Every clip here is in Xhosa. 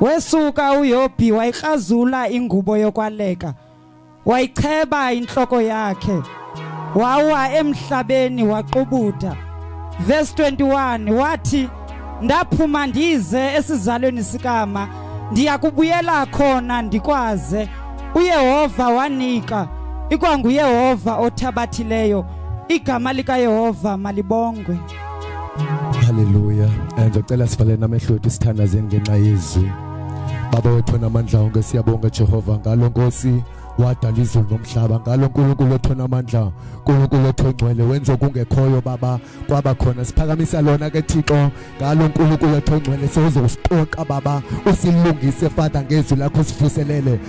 Wesuka uYobhi wayikrazula ingubo yokwaleka. Wayicheba inhloko yakhe. Wawa emhlabeni waqubuda. Verse 21 wathi ndaphuma ndize esizalweni sikama ndiya kubuyela khona ndikwaze uyehova wanika ikwanguyehova othabathileyo igama likayehova malibongwe Hallelujah. And ndicela sivalele namehlo wethu sithandazeni ngenxa yezwi. Baba wethu namandla onke siyabonga Jehova ngalo Nkosi wadala izulu nomhlaba ngalo nkulunkulu otho namandla nkulunkulu otho ngcwele wenza okungekhoyo baba kwaba khona siphakamisa lona ke thixo ngalo nkulunkulu otho ngcwele sewuzokusiqoqa baba usilungise fada ngezwi lakho sifuselele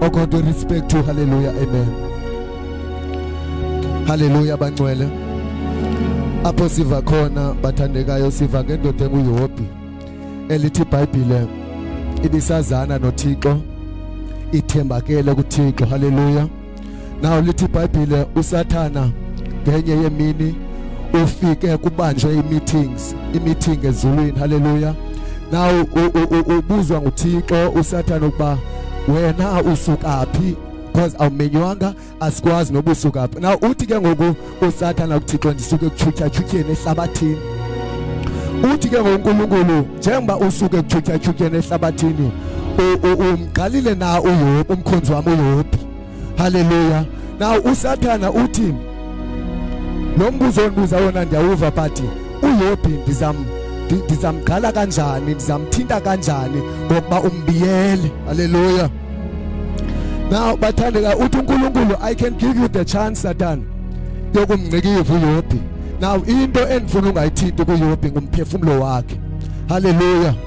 Oh God, we respect you. Hallelujah. Amen. Hallelujah, bangcwele. Apho siva khona bathandekayo siva ngendoda enguyihobi elithi iBhayibhile ibisazana noThixo ithembakele kuThixo. Hallelujah. nawo lithi ibhayibhile usathana ngenye yemini ufike kubanjwe i-meetings i-meeting ezulwini haleluya nawo ubuzwa nguthixo usathana ukuba wena usuka phi because awumenywanga asikwazi noba usuka phi na uthi ke ngoku usathana kuthixo ndisuke kutshutyatshuthyeni ehlabathini uthi ke ngonkulunkulu njengoba usuke kutshutyatshuthyeni ehlabathini umgqalile na uyophi umkhonzi wam uyophi Haleluya. Na usathana uthi lo mbuzo ondibuza wona ndiyawuva but uyophi ndizam ndizamgqala kanjani ndizamthinta kanjani ngokuba umbiyele haleluya now bathandeka uthi unkulunkulu i can give you the chance satan yokumngcikiva uyophi now into endifuna ungayithinti kuyophi ngumphefumulo wakhe haleluya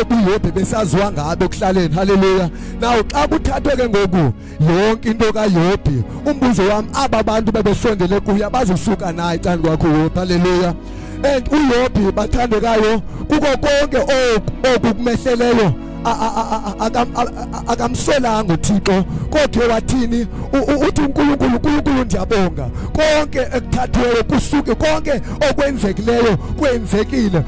obu yobhe besaziwa ngabo ekuhlaleni haleluya naw xa kuthathwe ke ngoku yonke into kayobhi umbuzo wam aba bantu bebesondele kuye abazosuka naye cani kwakho yobhi haleluya and uyobhi bathandekayo kuko konke oku kumehleleyo akamsolanga uthixo kodwa wathini uthi unkulunkulu unkulunkulu ndiyabonga konke ekuthathiweyo kusuke konke okwenzekileyo kwenzekile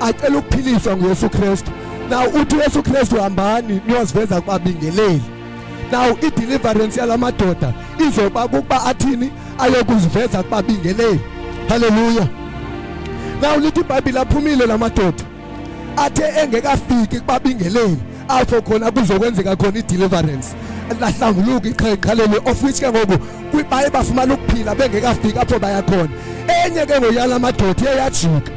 acela ukuphiliswa nguyesu kristu now uthi uyesu kristu hambani niyoziveza kubabingeleli now ideliverance yala madoda izoba kukuba athini ayokuziveza kubabingeleli halleluya now lithi ibhayibhile aphumile la madoda athe engekafiki kubabingeleli apho khona kuzokwenzeka khona ideliverance lahlanguluka iqhaqhaleli of which ke ngoku baye bafumana ukuphila bengekafiki apho bayakhona enye ke ngoyala madoda iye yajika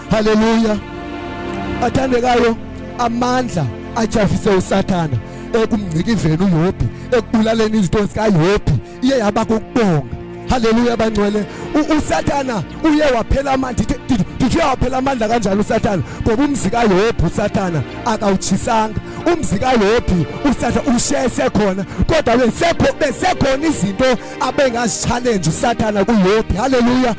haleluya athandekayo amandla ajafise usathana ekumngcikizeni uyobhi ekubulaleni izinto zikayobhi iye yaba kokubonga haleluya bangcwele usathana uye waphela amandla ndithe waphela amandla kanjalo usathana ngoba umzi kayobhi usathana akawutshisanga umzi kayobhi usathana ushe sekhona kodwa besekhona izinto abengazitshalenje usathana kuyobhi haleluya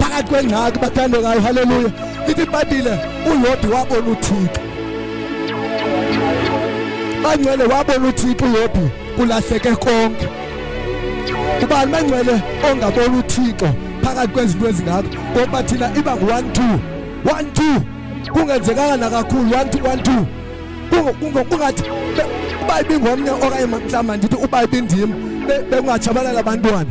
phakathi kwengxaki bathandwe ngayo haleluya lithi ibhayibhile uyodi wabona uthixo bangcwele wabona uthixo uyodi kulahleke konke ubani bangcwele ongabona uthixo phakathi kwezinto ezingako ngoba thina iba ngu-one two one two kungenzekanga nakakhulu one two one two kungathi uba ibingomnye okanye mhlawumbi ndithi uba ibindim bekungatshabalala abantwana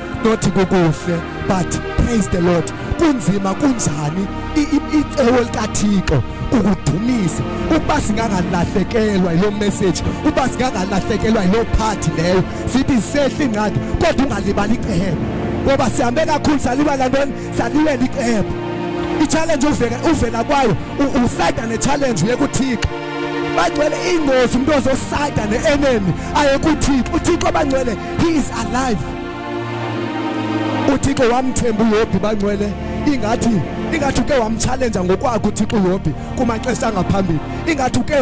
not kukuhle but praise the lord kunzima kunjani icebo likathixo ukudumisa ukuba singangalahlekelwa yiloo message ukuba singangalahlekelwa yiloo phathi leyo sithi sehla ingxaki kodwa ungalibali icebo ngoba sihambe kakhulu salibala ntoni salilela icebo i-challenge uvela kwayo usayida ne-challenge yekuthixo bagcwele ingozi umuntu ozosayida ne-enemy ayekuthixo uthixo bangcwele He is alive. UThixo wamthemba uYobhi bangcwele ingathi ingathi uke wamchallenge ngokwakhe uThixo uYobhi kumaxesha angaphambili ingathi uke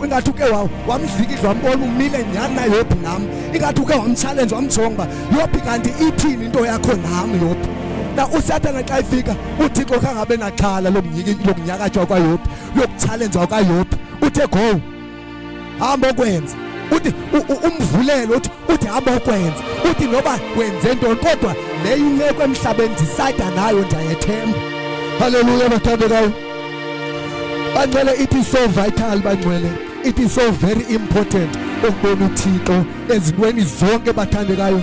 ingathi uke wamdlikidla wambona umile nyani na Yobhi nam ingathi uke wamchallenge wamjonga Yobhi kanti ithini into yakho nam Yobhi na usathana xa ifika uthixo khangabe naxhala lokunyakatywa kwayophi lokutshalenjwa kwayophi uthe go hamba okwenza uthi umvulelo uthi uthi hamba okwenza uthi noba wenze ntoni kodwa leyo imeko emhlabeni ndisada nayo ndiyayethemba haleluya bathandekayo bangcwele it is so vital bangcwele it is so very important ukubona uthixo ezintweni zonke bathandekayo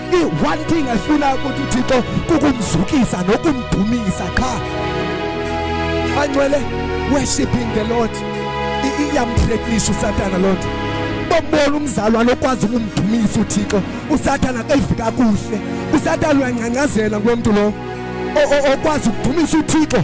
i-one thing efuna ukuthi uthixo kukumzukisa nokumdumisa qha ancwele worshiping the lord iyamthrekinisha usatana loo nto bombona umzalwane okwazi ukumdumisa uthixo usathane akayivi kakuhle usathane uyangcangcazela kulo mntu lowo okwazi ukudumisa uthixo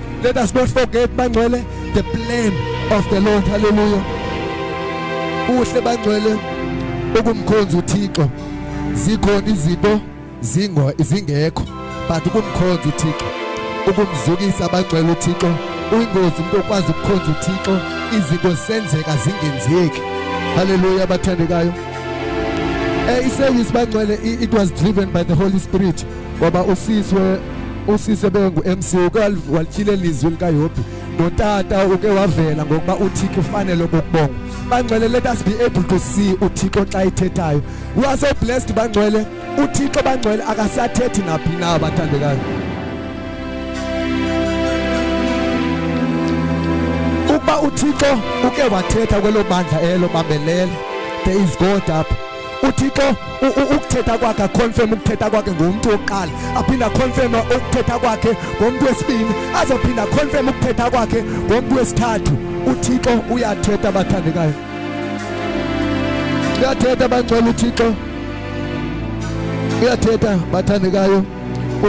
Let us not forget bangcwele the plan of the Lord. Hallelujah. Uhle bangcwele ukumkhonza uThixo. Zikhona izinto zingo izingekho but ukumkhonza uThixo. Ukumzukisa bangcwele uThixo. Uyingozi umuntu okwazi ukukhonza uThixo izinto senzeka zingenzeki. Hallelujah bathandekayo. Eh iseyisi bangcwele it was driven by the Holy Spirit. ngoba usiswe usise bengu-mc uke walityhile lizwi likayobhi notata uke wavela ngokuba uthixo ufanele okokubonga bangcwele let us be able to see uthixo xa ithethayo we are so blessed bangcwele uthixo bangcwele akasathethi naphi na abathandekayo ukuba uthixo uke wathetha kwelo bandla elo bambelele there is god up uthixo ukuthetha kwakhe akhonfeme ukuthetha kwakhe ngomntu wokuqala aphinde akhonfeme ukuthetha kwakhe ngomntu wesibini azophinde akhonfeme ukuthetha kwakhe ngomntu wesithathu uthixo uyathetha abathandekayo uyathetha bangcwele uthixo uyathetha bathandekayo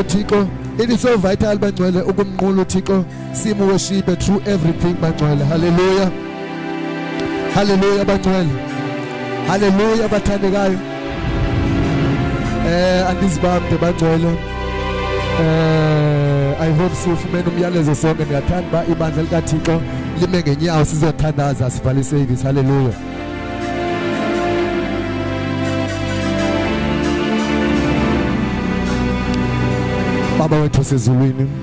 uthixo it is so vital bangcwele ukumnqula uthixo simuweshibe through everything bangcwele hallelujah haleluya bangcwele haleluya bathandekayo eh andizibambe bangcwele eh i hope sifumene umyalezo sonke ndiyathanda uba ibandla likathixo lime ngenyawo sizothandaza sivale iservice haleluya baba wethu sezulwini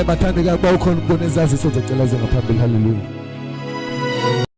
ebathandekayo uba ukhona ukubona ezaziso zecela zingaphambili haleluya